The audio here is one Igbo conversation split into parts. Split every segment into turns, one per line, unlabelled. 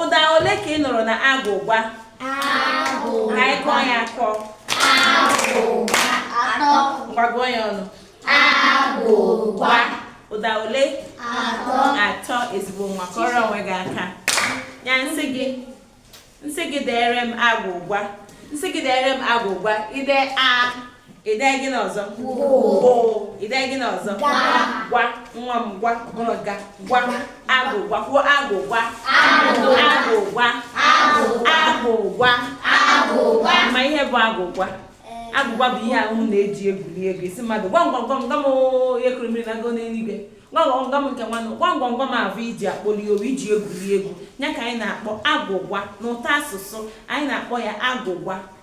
Ụda ole ka ị nụrụ na agwụgwa? Agwụgwa. Ka anyị kụọ ya akụ. Agwụgwa. Atọ. Ngwa gụọ ya ọnụ. Agwụgwa. Ụda ole? Atọ. Atọ ezigbo nwa kụọrọ onwe gị aka. Ya m sị gị m sị gị deere m agwụgwa. M sị gị deere m agwụgwa. I dee a. I dee gịnị ọzọ? Gwụ. I dee gịnị ọzọ? Gaa. Gwa. Nwa m gwa. Ọ bụrọ ga. Gwa. Agwụgwa. Kwuo agwụgwa. Agwụ. Agwụgwa. Agwụ. Agwụgwa. Agwụgwa. Ma ihe bụ agwụgwa. Agwụgwa bụ ihe ahụ a na-eji egwuri egwu ị sị mmadụ gwam gwam gwam gwa m oo, ihe kuru mmiri nagoo n'eluigwe gwam gwam gwam nke nwanụ gwam gwam gwam ahụ e ji akpọli owu e ji egwuri egwu ya ka anyị na-akpọ agwụgwa n'ụtọ asụsụ anyị na-akpọ ya agwụgwa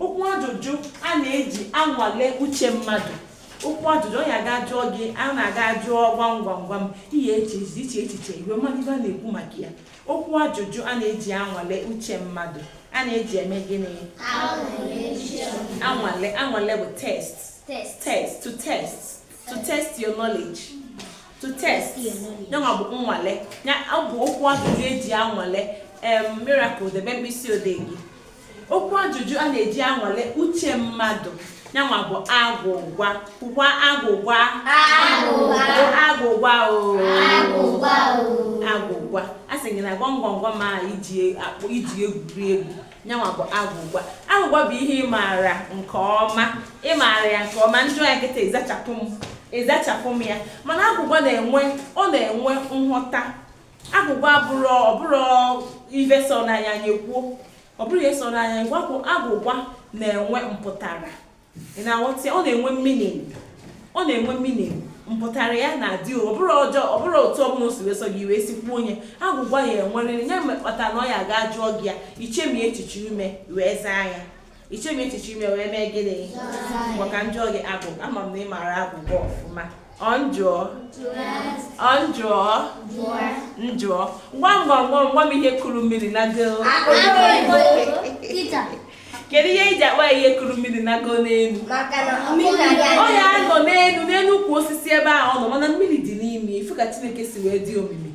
Okwu ajụjụ a na-eji anwale uche mmadụ okwu ajụjụ ọ ya ga jụọ gị a na-aga jụọ gwam gwam gwam i chee i chee echiche i wee malụ ife a na-ekwu maka ya okwu ajụjụ a na-eji anwale uche mmadụ a na-eji eme gịnị anwale anwale bụ test test to test to test your knowledge to test yanwa bụ nnwale ya ọ bụ okwu ajụjụ e ji anwale em Miracle debe mkpịsị odee gị Okwu ajụjụ a na-eji anwale uche mmadụ yanwa bụ agwụgwa kwukwa agwụgwa agwụgwa agwụgwa a sị gị na gwamgwamgwam a e ji egwuri egwu yanwa bụ agwụgwa agwụgwa bụ ihe ị maara nke ọma ị maara ya nke ọma m jụọ ya kịta ị zachapụ m ị zachapụ m ya mana agwụgwa na-enwe ọ na-enwe nghọta agwụgwa abụrọ ọ bụrụ ife so n'anya anyị ekwuo ọ bụrụ ihe so n'anya anyị gwapụ agwụgwa na-enwe mpụtara ị na-aghọta ọ na-enwe meaning ọ na-enwe meaning mpụtara ya na-adị ọ bụrụ ọjọọ ọ bụrụ otu ọbụla o si wee sọ gị i wee si kwuo onye agwụgwa ya enwerịrị ya mekpata na ọ ya ga jụọ gị ya i chemie echiche ime i wee zaa ya i chemie echiche ime wee mee gịnị maka m jụọ gị agwụgwa ama m na ị maara agwụgwa ọfụma m jụọ m jụọ m jụọ gwam gwam gwam gwa m ihe kuru mmiri nagoo kedu ihe e ji akpọ ihe kuru mmiri nagoo n'elu ọ ya-anọ n'elu n'elu ukwu osisi ebe ahụ ọ nọ mana mmiri dị n'ime ị fụ ka Chineke si wee dị omimi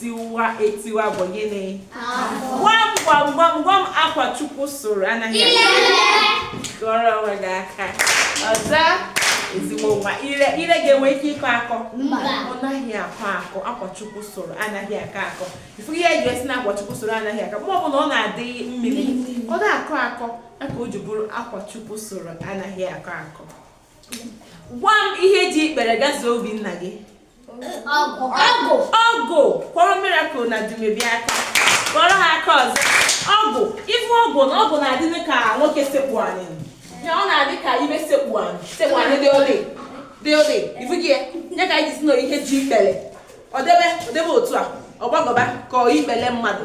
tiwa etiwa bụ gịnị gwam gwam gwam gwam akwa Chukwu sụrụ anaghị kụọrọ onwe gị aka ọzọ ezigbo nwa ire ire ga-enwe ike ịkọ akọ ọ naghị akọ akọ akwa Chukwu sụrụ anaghị akọ akọ ị fụ ihe e ji asị na akwa Chukwu sụrụ anaghị akọ ma ọ bụ na ọ na-adị mmiri ọ na-akọ akọ ya ka o ji bụrụ akwa Chukwu sụrụ anaghị akọ akọ gwa m ihe ji ikpere gazuo obi nna gị ọgụ ọgụ kụọrọ miracle na dumebi aka kụọrọ ha aka ọzọ ọgụ ife ọgụ na ọgụ na-adị ka nwoke sekpu anị ya ọ na-adị ka ife sekpu anị sekpu anị dị ole dị ole ifu gị ya nye ka anyị ji si na ihe ji ikpele ọ debe ọ debe otu a ọ gbagọba ka ikpele mmadụ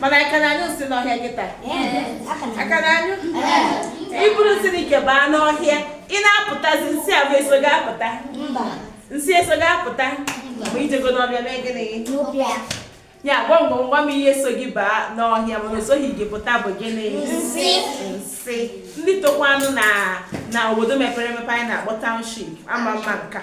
mana a ka na-anyụ nsị n'ọhịa kịta a ka na-anyụ i buru nsị na ike baa n'ọhịa ị na-apụtazi nsị a bụ eso gị apụta nsị eso gị apụta ma i jego n'ọhịa mee gịnị ya gwam gwam gwam ihe so gị baa n'ọhịa mana osoghị gị pụta bụ gịnị nsị nsị ndị tokwanụ na obodo mepere emepe anyị na-akpọ township ama ama nke a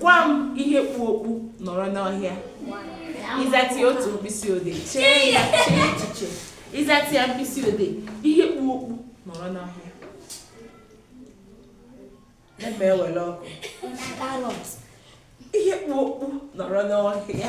Gwa m ihe kpu okpu nọrọ n'ọhịa. Ị zata otu mkpịsị odee. Chee ya chee echiche. Ị zata ya mkpịsị odee. Ihe kpu okpu nọrọ n'ọhịa. Ebe ewele ọkụ. Ihe kpu okpu nọrọ n'ọhịa.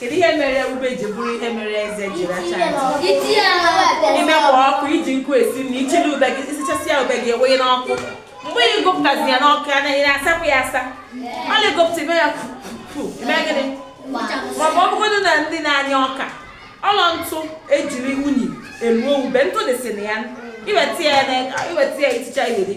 Kedu ihe mere ube ji bụrụ ihe mere eze ji racha ntụ i mekwa ọkụ i ji nkụ esi na i chili ube gị isichasị ya ube gị ewee n'ọkụ mgbe ị gụpụtazi ya n'ọkụ anaghị na-asapụ ya asa ọ na-egopụta ime ya pupu eme gịnị ma ọ bụgodị na ndị na-anya ọka ọlọ ntụ ejiri unyi eluo ube ntụ dịsị na ya i weta ya i ticha ya eri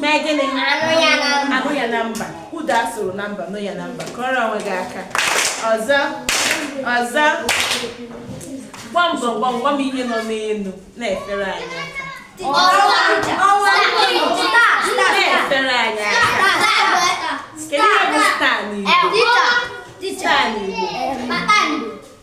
mee gịnị a nụ ya na mba ụda a sụrụ na mba nụ ya na mba kụọrọ onwe gị aka ọzọ ọzọ gwam gwam gwam gwam ihe nọ n'elu na-efere anyị aka na-efere anyị aka kedu ihe bụ star n'igbo star n'igbo